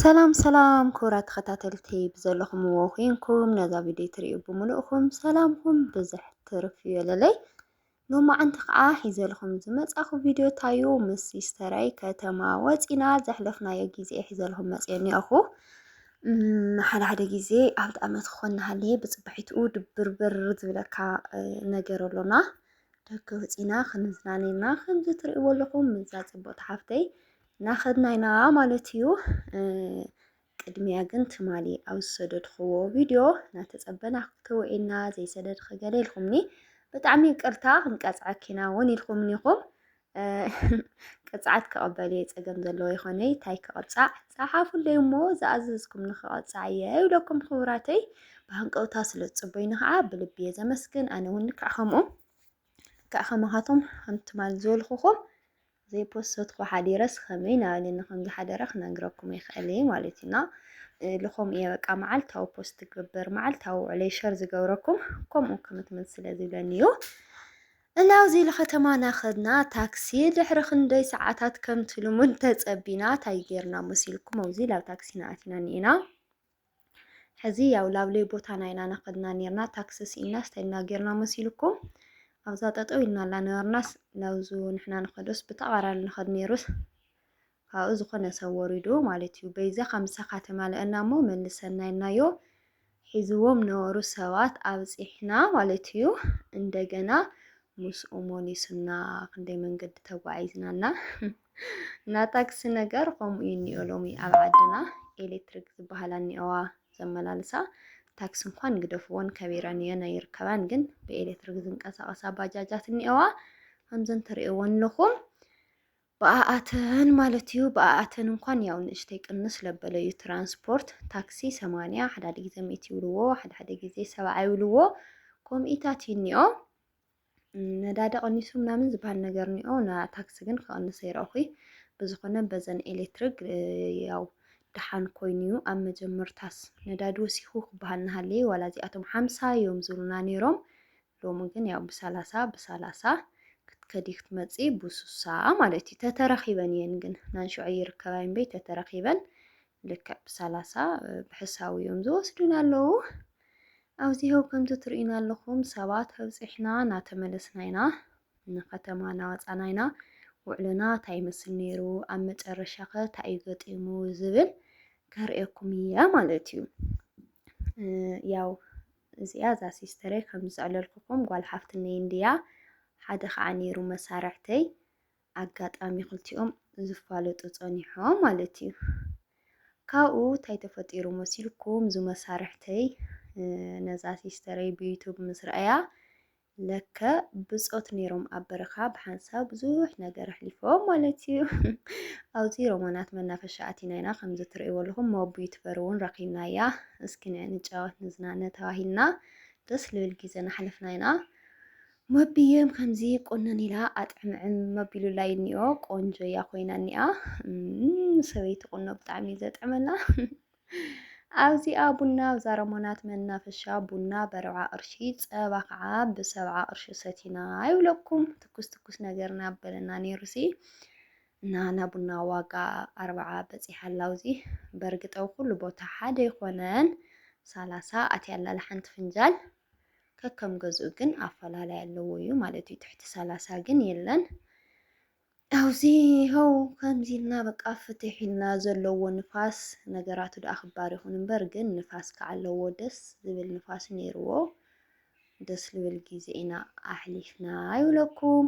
ሰላም ሰላም ክቡራት ተኸታተልቲ ብዘለኹምዎ ኮይንኩም ነዛ ቪድዮ ትሪኡ ብምልእኹም ሰላምኩም ብዝሕ ትርፍ ይበለለይ። ሎማዓንቲ ከዓ ሒዘልኹም ዝመፃኹ ቪድዮ ታዩ ምስ ሲስተረይ ከተማ ወፂና ዘሕለፍናዮ ግዜ ሒዘልኹም መፅየ እኒኦኹ። ሓደ ሓደ ግዜ ኣብ ጣዕመት ክኾን ንሃለየ ብፅባሒትኡ ድብርብር ዝብለካ ነገር ኣሎና ደገ ወፂና ክንዝናነና ከምዚ ትሪእዎ ኣለኹም ምዛ ፅብቕቲ ሓፍተይ ናኸድና ኢና ማለት እዩ። ቅድሚያ ግን ትማሊ ኣብ ዝሰደድክዎ ቪድዮ እናተፀበና ክትውዒልና ዘይሰደድኺ ገለ ኢልኩምኒ ብጣዕሚ ይቅርታ ክንቀፅዐኪ ኢና እውን ኢልኩምኒ ኢኹም ቅፅዓት ክቐበል እየ ፀገም ዘለዎ ይኾነይ ታይ ክቐፃዕ ፀሓፉለይ እሞ ዝኣዘዝኩም ንክቐፃዕ እየ ይብለኩም ክቡራተይ ብሃንቀውታ ስለ ዝፅበዩኒ ከዓ ብልቢ እየ ዘመስግን ኣነ እውን ልክዕ ከምኡ ክኣ ከማኻቶም ሓንቲ ትማል ዝበልኹኹም ዘይፖሰትኩ ሓዲረስ ከመይ ናበለኒ ከም ዝሓደረ ክነግረኩም ይኽእል እየ ማለት እዩ እና ልኾም እየ በቃ መዓልታዊ ፖስት ትገብር መዓልታዊ ውዕለይ ሸር ዝገብረኩም ከምኡ ክምትምት ስለ ዝብለኒ እዩ እና ኣብዚ ለኸተማ ናኸድና ታክሲ ድሕሪ ክንደይ ሰዓታት ከምቲ ልሙድ ተጸቢና ታይ ጌርና መሲልኩም ኣብዚ ላብ ታክሲ ናኣቲና ኒኤና ሕዚ ያው ላብለይ ቦታና ኢና ናኸድና ኔርና ታክሲ ስኢንና ስታይል እና ጌርና መሲሉኩም ኣብዛ ጠጠው ኢልና ኣላ ነበርናስ ናብዙ ንሕና ንኸዶስ ብተቓራኒ ንኸድ ኔሩስ ካብኡ ዝኾነ ሰብ ወሪዱ ማለት እዩ። በይዛ ከምሳኻ ተማልአና እሞ መልሰና ኢልናዮ ሒዝዎም ነበሩ ሰባት ኣብፂሕና ማለት እዩ። እንደገና ምስኡ ሞሊሱና ክንደይ መንገዲ ተጓዒዝናና እና ታክሲ ነገር ከምኡ እዩ እኒኦ ሎሚ ኣብ ዓድና ኤሌክትሪክ ዝበሃላ እኒኦዋ ዘመላልሳ ታክሲ እንኳን ግደፍዎን ከቢረን እየን ኣይርከባን ግን ብኤሌክትሪክ ዝንቀሳቐሳ ባጃጃት እኒኦዋ ከምዘን ትሪእዎን ኣለኹም ብኣኣተን ማለት እዩ ብኣኣተን እንኳን ያው ንእሽተይ ቅንስ ለበለ እዩ ትራንስፖርት ታክሲ ሰማንያ ሓደ ሓደ ግዜ ሚእቲ ይብልዎ ሓደ ሓደ ግዜ ሰብዓ ይብልዎ ኮምኢታት እዩ እኒኦ ነዳዲ ቀኒሱ ምናምን ዝበሃል ነገር ኒኦ ና ታክሲ ግን ክቐንስ ኣይረእኹይ ብዝኾነ በዘን ኤሌክትሪክ ያው ደሓን ኮይኑ እዩ ኣብ መጀመርታስ ነዳዲ ወሲኹ ክበሃል ናሃለየ ዋላ እዚኣቶም ሓምሳ እዮም ዝብሉና ነይሮም ሎሚ ግን ያው ብሰላሳ ብሰላሳ ክትከዲ ክትመፂ ብሱሳ ማለት እዩ ተተረኺበን እየን ግን ናንሸዑ ይርከባ እምበይ ተተረኺበን ልክዕ ብሰላሳ ብሕሳዊ እዮም ዝወስዱን ኣለዉ ኣብዚ ሀው ከምቲ ትርእዩና ኣለኹም ሰባት ኣብጺሕና እናተመለስና ኢና፣ ንከተማ እናወጻና ኢና፣ ውዕሎና እንታይ ይመስል ነይሩ፣ ኣብ መጨረሻኸ እንታይ እዩ ገጢሙ ዝብል ከርእየኩም እየ ማለት እዩ። ያው እዚኣ እዛ ሲስተረይ ከም ዝስዕለልኩኹም ጓል ሓፍትነይ እንድያ ሓደ ከዓ ነይሩ መሳርሕተይ ኣጋጣሚ ክልቲኦም ዝፋለጡ ጸኒሖም ማለት እዩ። ካብኡ እንታይ ተፈጢሩ መሲልኩም እዙ መሳርሕተይ ነዛ ሲስተረይ ብዩቱብ ምስ ረኣያ ለከ ብጾት ነይሮም ኣብ በረኻ ብሓንሳብ ብዙሕ ነገር ኣሕሊፎም ማለት እዩ ኣብዚ ሮማናት መናፈሻ ኣቲና ኢና ከምዚ ትርእይዎ ኣለኹም ሞብ ዩትበር እውን ረኺብና እያ እስኪ ንዕ ንጫወት ንዝናነ ተባሂልና ደስ ልብል ግዜ ናሕለፍና ኢና መብዬም ከምዚ ቁንን ኢላ ኣጥዕምዕም መቢሉላይ እኒኦ ቆንጆ እያ ኮይና እኒኣ ሰበይቲ ቁኖ ብጣዕሚ እዩ ዘጥዕመላ ኣብዚኣ ቡና ኣብዛ ረሞናት መናፈሻ ቡና በርብዓ ቅርሺ ፀባ ከዓ ብሰብዓ ቅርሺ ሰቲና ይብለኩም ትኩስ ትኩስ ነገር ናበለና ነይሩሲ እና ናብ ቡና ዋጋ ኣርብዓ በፂሓ ኣላውዚ በእርግጠው ኩሉ ቦታ ሓደ ይኮነን ሰላሳ ኣትያላለ ሓንቲ ፍንጃል ከከም ገዝኡ ግን ኣፈላላይ ኣለዎ እዩ ማለት እዩ። ትሕቲ ሰላሳ ግን የለን። ኣብዚ ኸው ከምዚ ኢልና በቃ ፍትሕ ኢልና ዘለዎ ንፋስ ነገራቱ ደኣ ክባር ይኹን እምበር ግን ንፋስ ከዓ ኣለዎ ደስ ዝብል ንፋስ ነይርዎ። ደስ ልብል ግዜ ኢና ኣሕሊፍና ይብለኩም።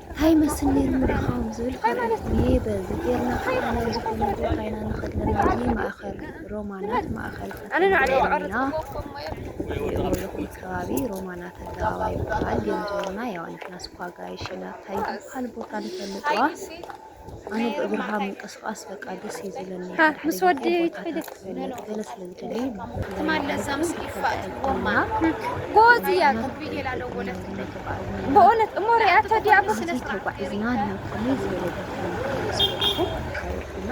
ሃይ መስል ነይሩ ምድኻም ዝብል ካልኦት እኔ በዚ ጌርና ኸኣ ናብ ዝኾነ ቦታ ኢና ንኸድ ኣለና እዚ ማእኸል ሮማናት ማእኸል ከተማ ሮሚና ትሪእዎ ኣለኹም ከባቢ ሮማናት ኣደባባይ ይበሃል ግን ዞርና ያው ንሕና ስኳ ኣጋይሽ ኢና ታይ ዝበሃል ቦታ ንፈልጥዋ ኣነ ብእግርኻ ምንቅስቃስ በቃ ደስ እዩ ዝብለኒ ምስ ወዲ ትኸይደስ ገለ ስለ ዝደሊ ጎዝ እያ ብእውነት እሞ ሪኣቶ ዲያ ተጓዒዝና ናብ ከመይ ዝበለ ቦታ ኢና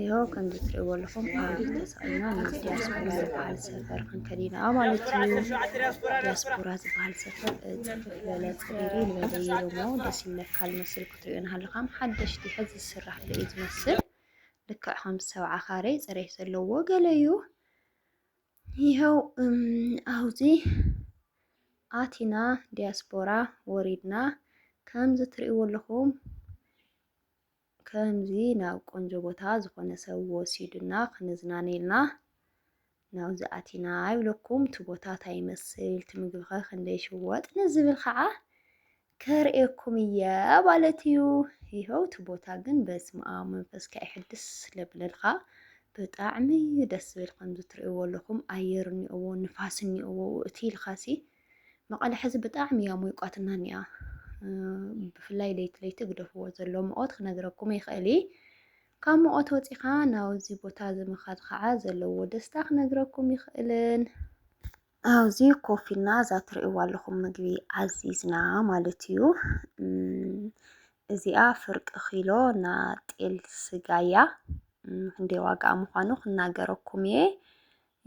ይኸው ከምዚ ትሪእዎ ኣለኹም ኣውዲት ተሰቒልና ናብ ዲያስፖራ ዝበሃል ሰፈር ክንከድ ኢና ማለት እዩ። ዲያስፖራ ዝበሃል ሰፈር ፅፍፍ ዝበለ ፅሪሪ ዝበለ እዩ እሞ ደስ ይብለካ ዝመስል ክትሪኦ ንሃለኻ ሓደሽቲ ሕዚ ዝስራሕ ዶ እዩ ዝመስል ልክዕ ከም ሰብዓ ካሬ ፅሬት ዘለዎ ገለ እዩ። ይኸው ኣብዚ ኣቲና ዲያስፖራ ወሪድና ከምዚ ትሪእዎ ኣለኹም ከምዚ ናብ ቆንጆ ቦታ ዝኾነ ሰብ ወሲዱና ክንዝናነ ኢልና ናብዚ ኣቲና ይብለኩም እቲ ቦታ ታይ ይመስል እቲ ምግቢ ከ ክንደይ ይሽወጥ ንዝብል ከዓ ከርእየኩም እየ ማለት እዩ። ይኸው እቲ ቦታ ግን በስመ ኣብ መንፈስካ ይሕድስ ለብለልካ ብጣዕሚ ደስ ዝብል ከምዚ ትርእይዎ ኣለኹም ኣየር እኒኦዎ ንፋስ እኒኦዎ እቲ ኢልካሲ መቐለ ሕዚ ብጣዕሚ እያ ሞይቋትና እኒኣ ብፍላይ ለይቲ ለይቲ ግደፍዎ ዘሎ ምቆት ክነግረኩም ይኽእል እየ ካብ ምቆት ወፂኻ ናብዚ ቦታ እዚ ምኻድ ከዓ ዘለዎ ደስታ ክነግረኩም ይኽእልን ኣብዚ ኮፍ ኢልና እዛ ትርእይዋ ኣለኹም ምግቢ ዓዚዝና ማለት እዩ እዚኣ ፍርቂ ኪሎ ና ጤል ስጋ እያ ክንደይ ዋጋኣ ምዃኑ ክናገረኩም እየ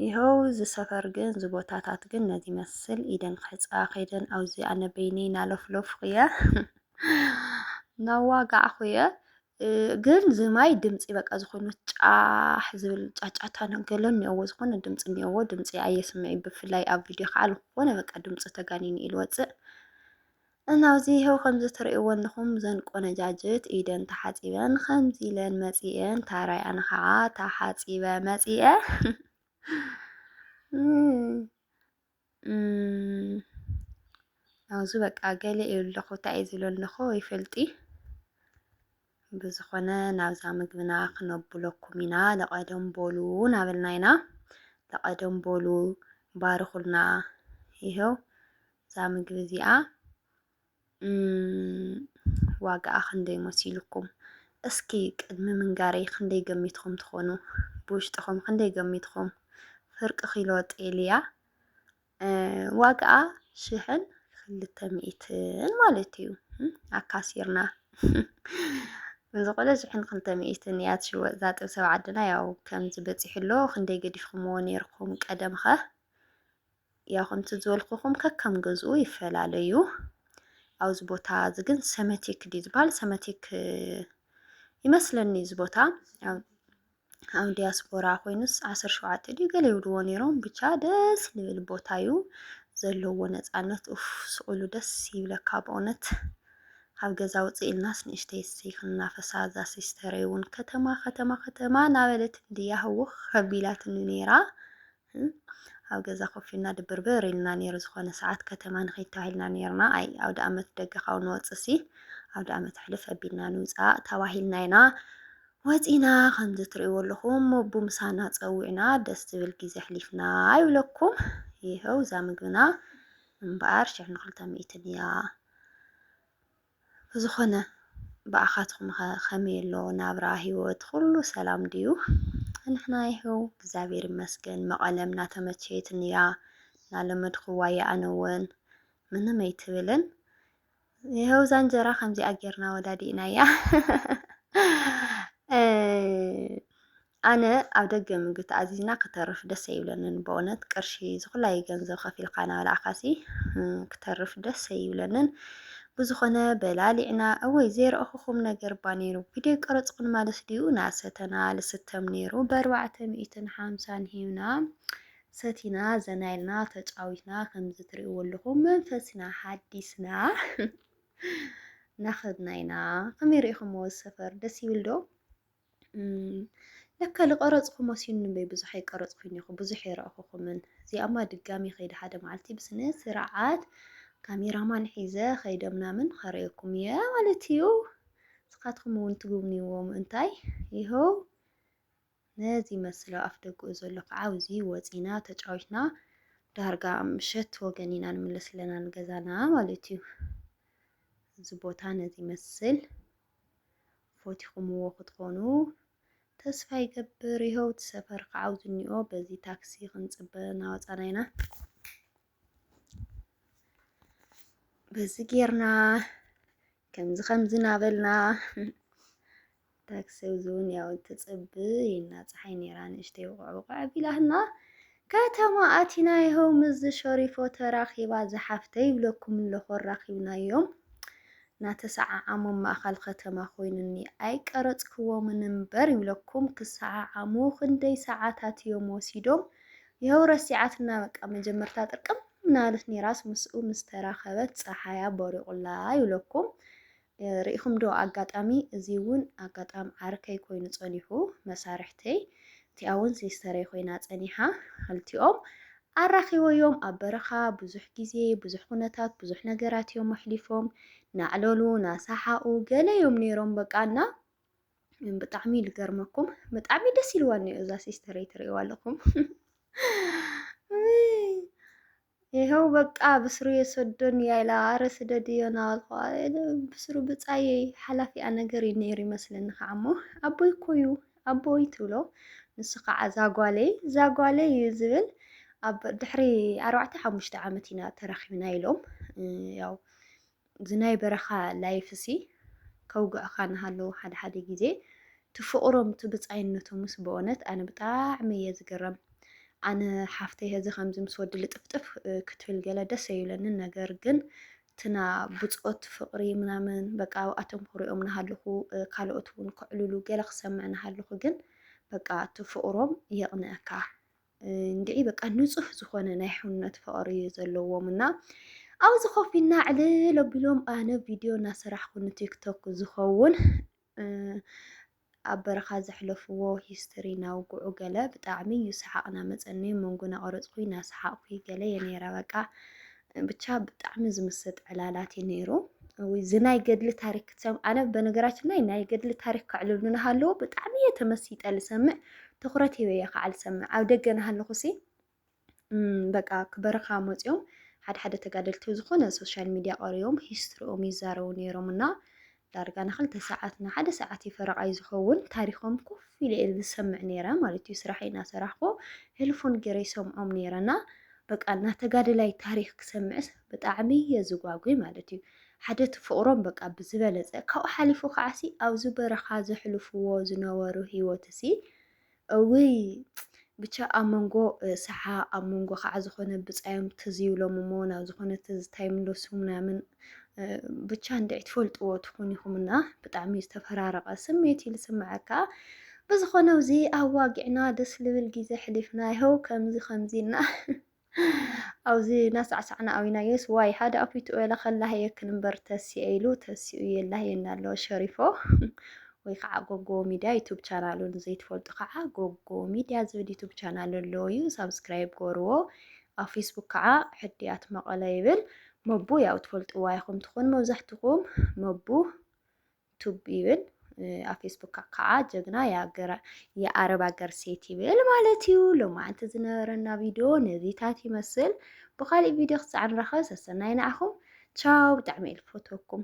ይሀው እዚ ሰፈር ግን እዚ ቦታታት ግን ነዚ መስል ኢደን ክሕፅባ ከይደን ኣብዚ ኣነ በይነይ ናለፍለፍኩ እየ ናዋጋዕኩ እየ ግን ዝማይ ድምፂ በቃ ዝኾኑ ጫሕ ዝብል ጫጫታ ነገሎ እኒኦዎ ዝኾነ ድምፂ እኒኦዎ ድምፂ ኣየስምዕ ብፍላይ ኣብ ቪድዮ ከዓ ዝኾነ በቃ ድምፂ ተጋኒኑ ኢሉ ወፅእ እና ኣብዚ ይሀው ከምዚ ትርእይዎ ኣለኹም ዘን ቆነጃጅት ኢደን ተሓጺበን ከምዚ ኢለን መጺኤን ታራይ ኣነ ከዓ ተሓጺበ መጺኤ ኣብዚ በቃ ገለ እዩ ኣለኹ እንታይ እዩ ዝሎ ኣለኹ ይፈልጢ ብዝኾነ ናብዛ ምግብና ክነብለኩም ኢና ለቐደም ቦሉ ናበልና ኢና ለቐደም ቦሉ ባርኹልና ይሀው እዛ ምግቢ እዚኣ ዋጋኣ ክንደይ መሲልኩም? እስኪ ቅድሚ ምንጋረይ ክንደይ ገሚትኩም ትኾኑ? ብውሽጥኹም ክንደይ ገሚትኩም? ፍርቂ ኪሎ ጤል እያ ዋጋኣ ሽሕን ክልተ ሚእትን ማለት እዩ ኣካሲርና ዝኾነ ሽሕን ክልተ ሚእትን እያ ትሽወጥ እዛ ጥብሲ ኣብ ዓድና ያው ከምዚ በፂሑ ኣሎ ክንደይ ገዲፍኩምዎ ነይርኩም ቀደምኸ ያው ከምቲ ዝበልኩኹም ከከም ገዝኡ ይፈላለዩ ኣብዚ ቦታ እዚ ግን ሰመቲክ ድዩ ዝበሃል ሰመቲክ ይመስለኒ እዚ ቦታ ኣብ ዲያስፖራ ኮይኑስ ዓሰርተ ሸውዓተ ድዩ ገለ ይብልዎ ነይሮም ብቻ ደስ ዝብል ቦታ እዩ ዘለዎ ነፃነት ኡፍ ስቕሉ ደስ ይብለካ ብእውነት ካብ ገዛ ውፅእ ኢልናስ ንእሽተይ እሰይ ክንናፈሳ እዛ ሲስተረይ እውን ከተማ ከተማ ከተማ ናበለት እንድያ ህውኽ ከቢላትኒ ነይራ ኣብ ገዛ ኮፍ ኢልና ድብርብር ኢሉና ኔሩ ዝኾነ ሰዓት ከተማ ንኺድ ተባሂልና ኔርና ኣይ ኣውደኣመት ደገ ካብ ንወጽእሲ ኣውደኣመት ሕልፍ ኣቢልና ንውጻእ ተባሂልና ኢና ወጺና ከምዚ ትርእይዎ ኣለኹም ሞቡ ምሳና ጸዊዕና ደስ ዝብል ግዜ ኣሕሊፍና ይብለኩም ይኸው እዛ ምግብና እምበኣር ሽሕ ንክልተ ሚእትን እያ ብዝኾነ ብኣኻትኩምኸ ከመይ ኣሎ ናብራ ሂወት ኹሉ ሰላም ድዩ ንሕና ይሀው እግዚኣብሔር ይመስገን መቐለም ናተመቸየትኒ እያ ናለመድኹዋ እየ ኣነ እውን ምንም ኣይትብልን ይሀው እዛ እንጀራ ከምዚኣ ጌርና ወዳዲእናያ ኣነ ኣብ ደገ ምግቢ ተኣዚዝና ክተርፍ ደስ ኣይብለንን በእውነት ቅርሺ ዝኹላይ ገንዘብ ከፊልካ ናበላዕካሲ ክተርፍ ደስ ኣይብለንን ብዝኾነ በላሊዕና እወይ ዘይረእኹኹም ነገር ባ ነይሩ ቪድዮ ቀረፅኹን ማለት ድዩ ናሰተና ልስተም ነይሩ በኣርባዕተ ሚእትን ሓምሳን ሂብና ሰቲና ዘና ኢልና ተጫዊትና ከምዚ ትሪእዎ ኣለኹም መንፈስና ሓዲስና ናኸድና ኢና ከመይ ሪኢኹምዎ ሰፈር ደስ ይብል ዶ ለካ ዝቀረጽኩ መሲኑ እምበይ ብዙሕ ኣይቀረጽኩን እኮ ብዙሕ ኣይረኣኹኹምን። እዚኣማ ድጋሚ ከይደ ሓደ መዓልቲ ብስነ ስርዓት ካሜራማን ሒዘ ከይደ ምናምን ከርእየኩም እየ ማለት እዩ። ንስኻትኩም እውን ትጉብንይዎ ምእንታይ ይኸው ነዚ መስሎ ኣፍ ደጉኡ ዘሎ ከዓ እዚ ወፂና ተጫዊትና ዳርጋ ምሸት ወገን ኢና ንምለስ ኣለና ንገዛና ማለት እዩ። እዚ ቦታ ነዚ መስል ፎቲኹምዎ ክትኾኑ ተስፋ ይገብር ይሀው እቲ ሰፈር ክዓውት እኒኦ በዚ ታክሲ ክንፅበ እናወፃና ኢና በዚ ጌርና ከምዚ ከምዚ ናበልና ታክሲ እውን ያው ትፅብ ኢና ፀሓይ ነይራ ንእሽተይ ውቕዕ ውቕዕ ቢላትና ከተማ ኣቲና ይሀው ምዝ ሸሪፎ ተራኺባ ዝሓፍተይ ይብለኩም ኣለኹ ኣራኺብናዮም ናተሰዓዓሞም ማእኻል ከተማ ኮይኑኒ ኣይቀረጽክዎምን እምበር ይብለኩም ክሰዓዓሙ ክንደይ ሰዓታት እዮም ወሲዶም ይሀው ረሲዓትና በቃ መጀመርታ ጥርቅም ምናለት ኔራስ ምስኡ ምስተራኸበት ፀሓያ ቦሪቑላ ይብለኩም ርኢኹም ዶ ኣጋጣሚ እዚ ውን ኣጋጣም ዓርከይ ኮይኑ ጸኒሑ መሳርሕተይ እቲኣ ውን ሲስተረይ ኮይና ጸኒሓ ኽልቲኦም ኣራኺበዮም ኣብ በረኻ ብዙሕ ግዜ ብዙሕ ኩነታት ብዙሕ ነገራት እዮም ኣሕሊፎም ናዕለሉ ናሳሓቁ ገለ እዮም ነይሮም በቃ እና ብጣዕሚ ልገርመኩም ብጣዕሚ ደስ ኢልዋ እኒኦ እዛ ሲስተረይ ትርእይዋ ኣለኹም ይሀው በቃ ብስሩ የሰዶን እያ ኢላ ኣረ ስደድዮ ናበልኩዋ ብስሩ ብፃየይ ሓላፊኣ ነገር እዩ ነይሩ ይመስለኒ ከዓ እሞ ኣቦይ እኮ እዩ ኣቦይ ትብሎ ንሱ ከዓ ዛጓለይ ዛጓለይ እዩ ዝብል ኣብ ድሕሪ ኣርባዕተ ሓሙሽተ ዓመት ኢና ተራኺብና ኢሎም ያው እዚ ናይ በረኻ ላይፍሲ ከውግኣኻ ናሃለዉ ሓደ ሓደ ግዜ ትፍቕሮም እቲ ብጻይነቶምስ ብኦነት ኣነ ብጣዕሚ እየ ዝግረም ኣነ ሓፍተይ ሀዚ ከምዚ ምስ ወዲ ልጥፍጥፍ ክትብል ገለ ደስ ኣይብለንን ነገር ግን ትና ብጾት ፍቕሪ ምናምን በቃ ኣብኣቶም ክሪኦም ናሃለኹ ካልኦት እውን ከዕልሉ ገለ ክሰምዕ ናሃለኹ ግን በቃ እቲ ፍቕሮም የቕንኣካ። እንድዒ በቃ ንፁህ ዝኾነ ናይ ሕውነት ፍቕሪ እዩ ዘለዎም እና ኣብዚ ኮፍ ኢልና ዕልል ኣቢሎም ኣነ ቪድዮ እናሰራሕኩ ንቲክቶክ ዝኸውን ኣብ በረኻ ዘሕለፍዎ ሂስትሪ ናውግዑ ገለ ብጣዕሚ እዩ ሰሓቕ ናመፀኒ መንጎ ናቐረፅኩ ናሰሓቕኩ ገለ የኔራ በቃ ብቻ ብጣዕሚ ዝምስጥ ዕላላት እዩ ነይሩ። እዚ ናይ ገድሊ ታሪክ ክትሰምዕ ኣነ በነገራችን ላይ ናይ ገድሊ ታሪክ ከዕልሉ ናሃለዎ ብጣዕሚ እየ ተመሲጠ ልሰምዕ ትኩረት ሂበ እየ ከዓ ልሰምዕ ኣብ ደገ ናሃለኹ ሲ በቃ ክበረኻ መፂኦም ሓደ ሓደ ተጋደልቲ ዝኾነ ሶሻል ሚዲያ ቀሪቦም ሂስትሪኦም ይዛረቡ ነይሮም እና ዳርጋ ንክልተ ሰዓት ንሓደ ሰዓት እዩ ፈረቓይ ዝኸውን ታሪኾም ኮፍ ኢለ እየ ዝሰምዕ ነይረ ማለት እዩ ስራሐይ እናሰራሕኩ ሄልፎን ገይረ ይሰምዖም ነይረ እና በቃ እና ተጋደላይ ታሪክ ክሰምዕስ ብጣዕሚ እየ ዝጓጉይ ማለት እዩ ሓደ እቲ ፍቕሮም በቃ ብዝበለፀ ካብኡ ሓሊፉ ከዓሲ ኣብዚ በረኻ ዘሕልፍዎ ዝነበሩ ሂወት እሲ እውይ ብቻ ኣብ መንጎ ሰሓ ኣብ መንጎ ከዓ ዝኾነ ብፃዮም ትዝ ይብሎም እሞ ናብ ዝኾነ ትዝታ ይምለሱ ምናምን ብቻ እንድዒ ትፈልጥዎ ትኹን ኢኹም እና ብጣዕሚ ዝተፈራረቐ ስሜት እዩ ዝስምዐካ ብዝኾነ እዚ ኣዋጊዕና ደስ ልብል ግዜ ሕሊፍና ይኸው ከምዚ ከምዚ እና ኣብዚ ናሳዕሳዕና ኣዊናዮስ ዋይ ሓደ ኣፊቱ ወላ ከላህ የክል እምበር ተሲኤ ኢሉ ተሲኡ የላህየና ኣሎ ሸሪፎ ወይ ከዓ ጎጎ ሚድያ ዩቱብ ቻናሉ ንዘይትፈልጡ ከዓ ጎጎ ሚድያ ዝብል ዩቱብ ቻናል ኣሎ እዩ ሳብስክራይብ ገርዎ ኣብ ፌስቡክ ከዓ ሕድያት መቐለ ይብል መቡ ያው ትፈልጥዋ ኢኹም ትኾኑ መብዛሕትኹም መቡ ቱብ ይብል ኣብ ፌስቡክ ከዓ ጀግና የኣረብ ሃገር ሴት ይብል ማለት እዩ። ሎማዓንቲ ዝነበረና ቪድዮ ነዚታት ይመስል። ብካሊእ ቪድዮ ክሳዕ ንራኸብ ሰሰናይ ንዓኹም ቻው። ብጣዕሚ እየ ዝፈትወኩም።